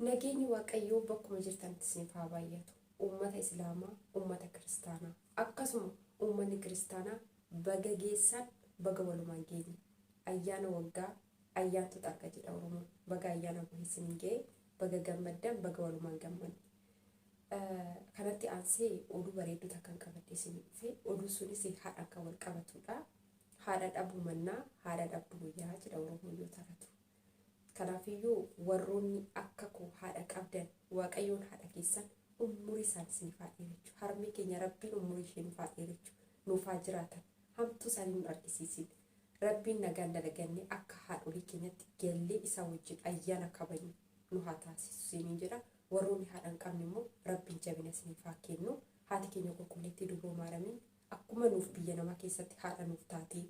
Nageenyi waaqayyoo bakkuma jirtanitti isiniif haa baay'atu. Uummata Islaamaa, uummata Kiristaanaa. Akkasuma uummanni Kiristaanaa baga geessan baga walumaan geenye. Ayyaana waggaa ayyaantu xarga jedha Oromoon. Baga ayyaana buhe isiniin ga'e. Baga gammaddan baga walumaan gammanne. Kanatti aansee oduu bareedduu takkan qabadhee isin dhufe. Oduu sunis haadhaan kan wal qabatudha. Haadha dhabuu mannaa haadha dhabdu wayyaa jedha Oromoon yoo taphatu. Kanaafiyyuu warroonni akka koo haadha qabdan waaqayyoon haadha keessan ummurii isaani isiniif haa dheerechu harmee keenya rabbiin ummurii ishee nuuf haa dheerechu nuuf haa jiraatan hamtuu isaanii nun argisiisin rabbiin nagaan dalagannee akka haadholii keenyatti gallee isaa wajjin ayyaana kabajnu nu haa taasisu isiniin jedha warroonni haadha hin qabne immoo rabbiin jabina isiniif haa kennu haati keenya qulqulleettii dubroo maaramiin Akkuma nuuf biyya namaa keessatti haadha nuuf taatee,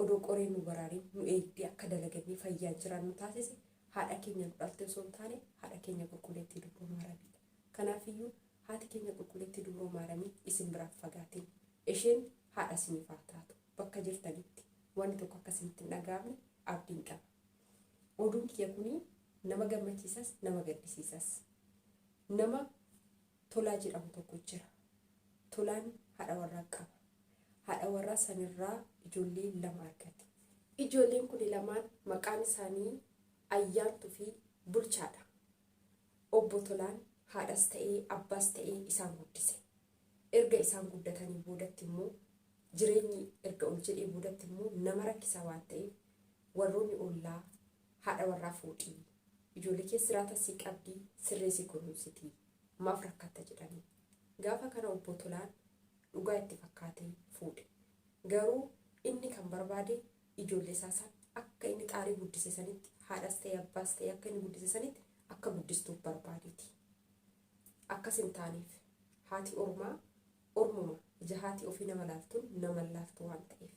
odoo qoreen nu baraarin nu eegdee akka dalagannee fayyaan jiraannu taasise, haadha keenya nu dhalte osoo hin taane, haadha keenya Qulqulleettii Dubroo Maaramiidha. Kanaafiyyuu haati keenya Qulqulleettii Dubroo Maaramii isin biraa hin fagaatin. Isheen haadha isiniif haa taatu. Bakka jirtanitti wanni tokko akka isinitti hin dhaga'amne abdiin qaba. Oduun kiyya kuni nama gammachiisas, nama gaddisiisas. Nama. Tolaa jedhamu tokko jira. Tolaan haadha warraa qaba. Haadha warraa sanirraa ijoollee lama argate. Ijoolleen kuni lamaan maqaan isaanii Ayyaantu fi Bulchaadha. Obbo Tolaan haadhas ta'ee abbaas ta'ee isaan guddise. Erga isaan guddatanii boodatti immoo jireenyi erga ol jedhee boodatti immoo nama rakkisaa waan ta'eef warroonni ollaa Haadha warraa fuudhii. Ijoollee kee siraata sii qabdii sirrii si kunuunsitii. Maaf rakkatta jedhanii. Gaafa kana Obbo Tolaan dhugaa itti fakkaatee fuudhe. Garuu inni kan barbaade ijoollee isaa san akka inni xaarii guddise sanitti haadhas ta'e abbaas ta'e akka inni guddise sanitti akka guddistuuf barbaadeeti. Akkas hin taaneef. Haati ormaa ormuma ija haati ofii nama laaltuun nama hin laaftu waan ta'eef.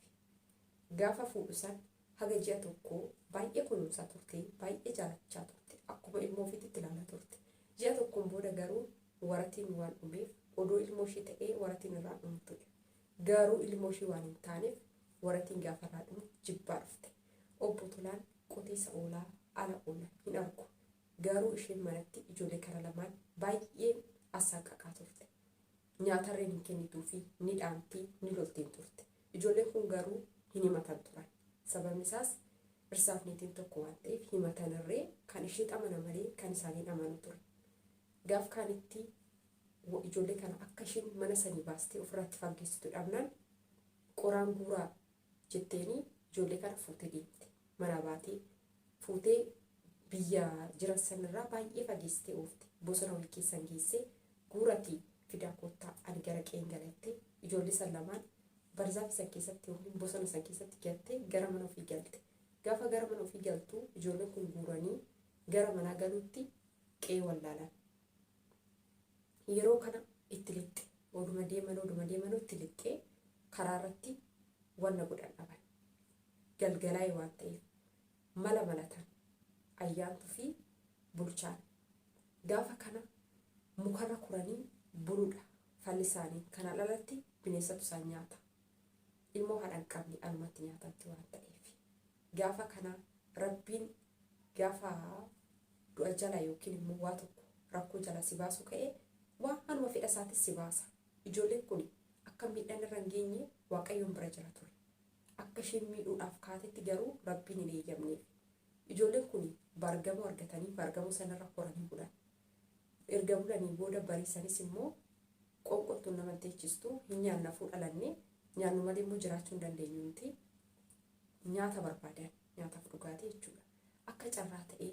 Gaafa fuudhu san Haga ji'a tokkoo baay'ee kunuunsaa turte, baay'ee jaalachaa turte, akkuma ilmoo ofiitti itti ilaalaa turte. Ji'a tokkoon booda garuu waratiin waan dhumeef odoo ilmoo ishii ta'ee waratiin irraa dhumu ture. Garuu ilmoo ishii waan hin taaneef waratiin gaafa irraa dhumu jibbaa dhufte. Obbo Tolaan qotiisa oolaa, ala oola, hin argu. Garuu isheen manatti ijoollee kana lamaan baay'ee assaaqaqaa turte. Nyaatarreen hin kennituufi, ni dhaamti, ni loltiin turte. Ijoolleen kun garuu hin himatan turan. Sababni isaas dhirsaaf niitiin tokko waan ta'eef himatanirree kan isheet amana malee kan isaanii hin amanu ture. Gaaf kaanitti ijoollee kana akka ishiin mana sanii baastee ofirraatti faggeessitu dhabnaan qoraan guuraa jetteenii ijoollee kana fuutee deemte. manaa baatee fuutee biyya jiran sanirraa baay'ee fageessitee oofte bosona wayii keessan geessee guuratii fidaa koottaa ani gara qeen galatte ijoollee san lamaan barzaafi san keessatti yookiin bosona san keessatti gattee gara mana ofii galte gaafa gara mana ofii galtu ijoolleen kun guuranii gara manaa galuutti qe'ee wallaalan yeroo kana itti lixxe oduma deeman oduma deeman itti lixxee karaa irratti wanna godhan dhaban galgalaa'e waan ta'eef mala malatan Ayyaantuu fi Bulchaan. Gaafa kana mukarra kuranii buluudha falli isaanii. Kanaan alatti bineensatu isaan nyaata. Ilmoo haadha hin qabne anumatti nyaatamti waan ta'eef. Gaafa kana Rabbiin gaafa du'a jala yookiin immoo waa tokko rakkoo jala si baasuu ka'ee waan hanuma fedha isaatis si baasa. Ijoolleen kun akka miidhaan irra hin geenye Waaqayyoon bira jira ture. Akka isheen miidhuudhaaf kaatetti garuu Rabbiin hin eeyyamneef. Ijoolleen kun baargamoo argatanii baargamoo sanarra horanii bulan. Erga bulanii booda bariisanis immoo Qoonqoon tun nama hin teechistu, hin nyaanna afuu dhalanne, nyaannu malee immoo jiraachuu hin dandeenyu nuti. Nyaata barbaadan, nyaataaf dhugaatii jechuudha. Akka carraa ta'ee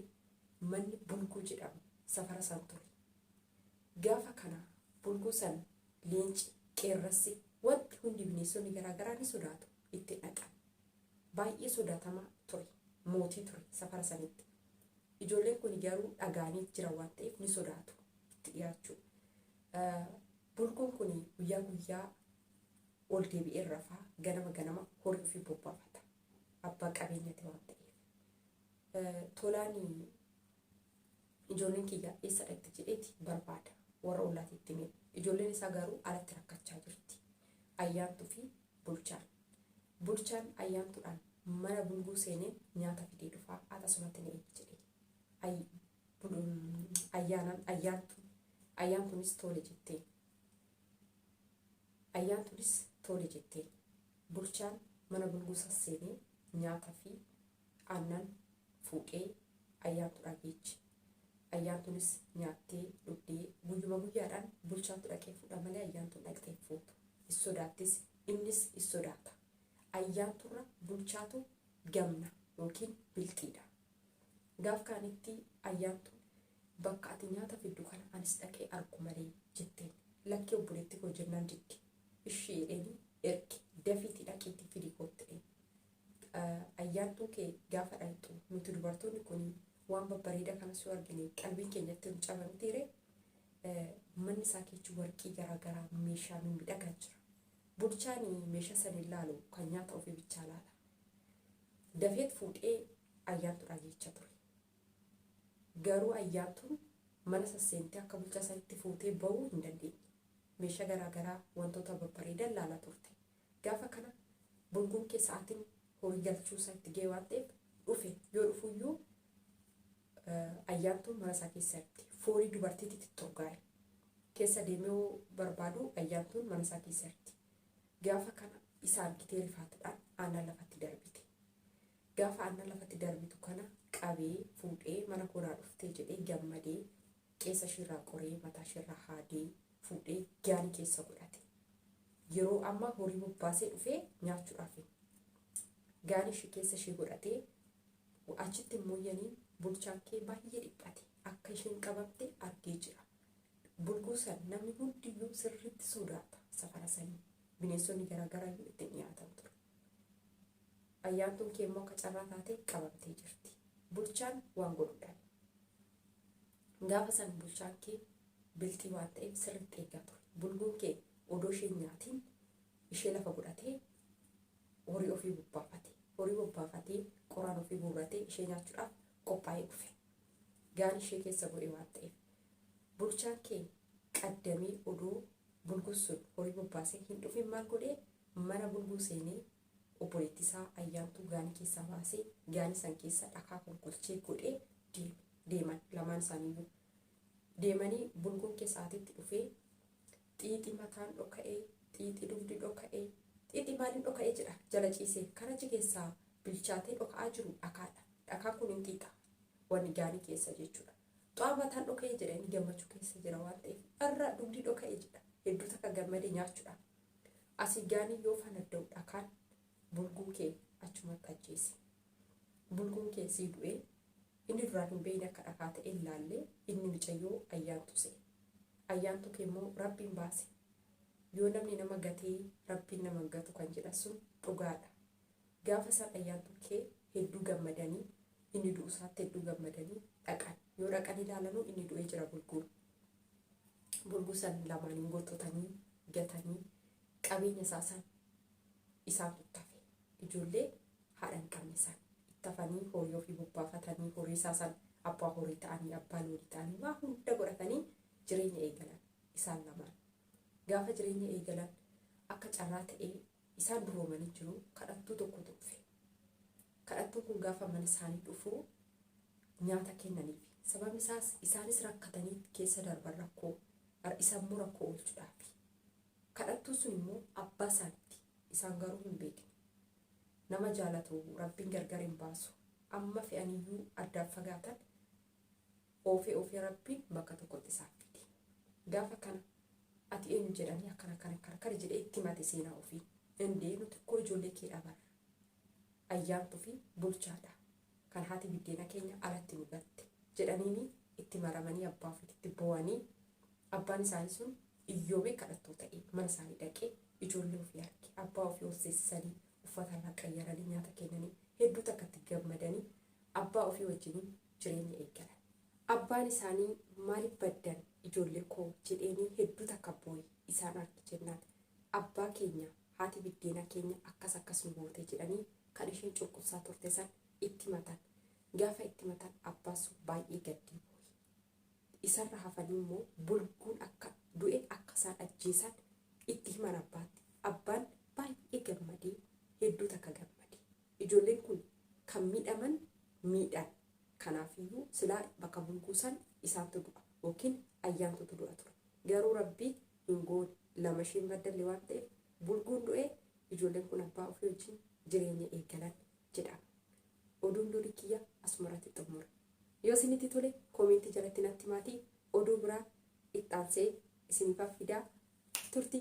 manni Bulguu jedhamu safara san ture. Gaafa kana bulguu san leenci, qeerrassi, wanti hundi bineensonni garaa garaa ni sodaatu. Itti dhaqan. Baay'ee sodaatamaa ture. Mootii ture safara sanitti. Ijoolleen kuni garuu dhaga'aniit jira waan ta'eef ni sodaatu itti dhiyaachuu. Bulguun kuni guyyaa guyyaa ol deebi'ee rafaa ganama ganama horii ofii bobbaafata. Abbaa qabeenyati waan ta'eef. Tolaani Ijoolleen kiyya eessa dhaqxi jedheeti barbaada. Warra ollaati itti hime. Ijoolleen isaa garuu alatti rakkachaa jirti. Ayyaantuu fi Bulchaan. Bulchaan Ayyaantuudhaan mana bulguu seenee nyaata fidee dhufaa ati asumatti na eegi jedhee. Ay, bul, ayyaanaan Ayyaantuun. Ayyaantuunis toole jetteen. Ayyaantuunis toole jetteen. Bulchaan mana bulguu sas seenee nyaata fi Aannan fuudhee Ayyaantu dhageechi. Ayyaantunis nyaattee dhugdee guyyuma guyyaadhaan bulchaatu dhaqee fuudha malee Ayyaantuun dhaqxee hin fuutu. Hin sodaattis innis hin sodaata. Ayyaanturra bulchaatu gamna yookiin bilxiidha. Gaaf kaanitti Ayyaantuun bakka ati nyaata fiddu kana anis dhaqee argu malee jetteen. Lakkii obboleetti koo jennaan didde. Ishii jedheeni erge dafiitii dhaqiitii fidii koottu jedheen. Ayyaantuu kee gaafa dhayxu nuti dubartoonni kun waan babbareeda kanas yoo argine qalbiin keenyatti nu caba mitii ree? Manni isaa keechi warqii garaa garaa meeshaa mimidhagaa jira. Bulchaan meeshaa san hin laalu kan nyaata ofii bichaa laala. Dafeet fuudhee ayyaantuudhaa jecha ture. Garuu ayyaantuun mana sasseentee akka bulchaa sanitti fuutee ba'uu hin dandeenye. Meeshaa garaa garaa wantoota babbareedan laala turte. Gaafa kana burguun kee sa'aatiin horii galchuu isaa itti ga'e waan ta'eef dhufe. Yoo dhufu iyyuu Ayyaantuun mana isaa keessa hirti. Foolii dubartiitti titturgaa'e. Keessa deemee yoo barbaadu Ayyaantuun mana isaa keessa hirti. Gaafa kana isa argitee rifaatudhaan aannan lafatti darbite. Gaafa aannan lafatti darbitu kana qabee fuudhee mana koo naa dhuftee jedhee gammadee qeensa ishiirraa qoree mataa ishiirraa haadee fuudhee gaalii keessa godhate. Yeroo ammaa horii bobbaasee dhufee nyaachuudhaaf gaalii ishii keessa ishii godhatee achitti mooyyanii bulchaan kee baay'ee dhiphate akka isheen qabamte argee jira. Bulguu san namni hundiyyuu sirriitti sodaata safara sanii bineensonni garaagaraa iyyuu itti dhiyaatan ture. Ayyaantuun kee immoo akka carraa taatee qabamtee jirti. Bulchaan waan godhu dhabe. Gaafa san bulchaan kee bilxii waan ta'eef sirriitti eegaa ture. Bulguun kee odoo ishee hin nyaatiin ishee lafa godhatee horii ofii bobbaafate. Horii bobbaafatee qoraan ofii guurratee ishee nyaachuudhaaf qophaa'ee dhufe. Gaara ishee keessa bu'ee waan ta'eef. Bulchaan kee qaddamee odoo bulguun sun horii bobbaasee hin dhufin maal godhee mana bulguu seenee Obboleetti isaa Ayyaantuu gaanii keessaa baasee gaanii san keessa dhakaa golgolchee godhee deeme. Deeman lamaan isaaniiyyuu. Deemanii bulguun keessa aatetti dhufee xiixi mataan dhoka'ee, xiixi dugdi dhoka'ee, xiixi maaliin dhoka'ee jedha jala ciisee kan achi keessaa bilchaatee dhoka'aa jiru dhakaadha. Dhakaan kun hin xiixa. Wanni gaanii keessa jechuudha. Xaa mataan dhoka'e jedha inni gammachuu keessa jira waan ta'eef irra dugdi dhoka'e jedha hedduu takka gammade nyaachudha asii gaanii yoo fanadda'u dhakaan bulguu kee achumatti ajjeesi bulguun kee sii du'ee inni duraan hin beeyne akka dhakaa ta'e hin laalle inni micayyoo ayyaantu se'e ayyaantu kee immoo rabbiin baase yoo namni nama gatee rabbiin nama hin gatu kan jedhan sun dhugaadha Gaafa san Ayyaantuun kee hedduu gammadanii inni du'u isaatti hedduu gammadanii dhaqan. Yoo dhaqanii ilaalanuu inni du'ee jira bulguun. Bulguu san lamaaniin goxxotanii gatanii qabeenya isaa san isaantu itti hafe. Ijoollee haadha hin qabne san itti hafanii horii ofii bobbaafatanii horii isaa san abbaa horii ta'anii abbaa loonii ta'anii waa hunda godhatanii jireenya eegalan isaan lamaan. Gaafa jireenya eegalan akka carraa ta'ee Isaan duroomanii jiru. Kadhattuu tokkotu dhufe. Kadhattuun kun gaafa mana isaanii dhufu nyaata kennaniif. Sababni isaas isaanis rakkatanii keessa darban rakkoo isa immoo rakkoo oolchuudhaafi. Kadhattuun sun immoo abbaa isaanitti isaan garuu hin beekne. Nama jaalatu rabbiin gargar hin baasu. Amma fe'aniyyuu addaan fagaatan oofee oofee rabbiin bakka tokkotti isaaf fide gaafa kana ati eenyu jedhanii akkana akkana akkana akkana jedhee itti himate seenaa ofii indee nuti koo ijoollee kee dhabar ayyaantu fi bulchaadha kan haati biddeena keenya alatti nu gatte jedhaniini itti maramanii abbaa ofiitti boo'anii abbaan isaanii sun iyyoomee kadhattoo ta'e mana isaanii dhaqee ijoollee ofii arge abbaa ofii horsiisanii uffata irraa qayyaranii nyaata kennanii hedduu takkatti gammadanii abbaa ofii wajjiniin jireenya eegalan. Abbaan isaanii maalif baddan ijoollee koo jedheenii hedduu takka booye isaan arge jennaan abbaa keenya haati biddeenaa keenya akkas akkas nu goote jedhanii kan isheen cunqursaa turte san itti himatan. Gaafa itti himatan abbaan sun baay'ee gaddee booye. Isarra hafanii immoo bulguun akka du'e akka isaan ajjeesan itti himan abbaatti. Abbaan baay'ee gammadee hedduu takka gammadee. Ijoolleen kun kan miidhaman miidhaan kanaafiyyuu silaa bakka bulguu san isaantu du'a yookiin ayyaantutu du'a ture garuu rabbi hin goone lama isheen baddalle waan ta'eef bulguun du'ee ijoolleen kun abbaa ofii wajjin jireenya eegalan jedhama oduun durii kiyya asumarratti xumura yoo isinitti tole koomentii jalatti natti maatii oduu biraa ittaansee isiniif fidaa turtii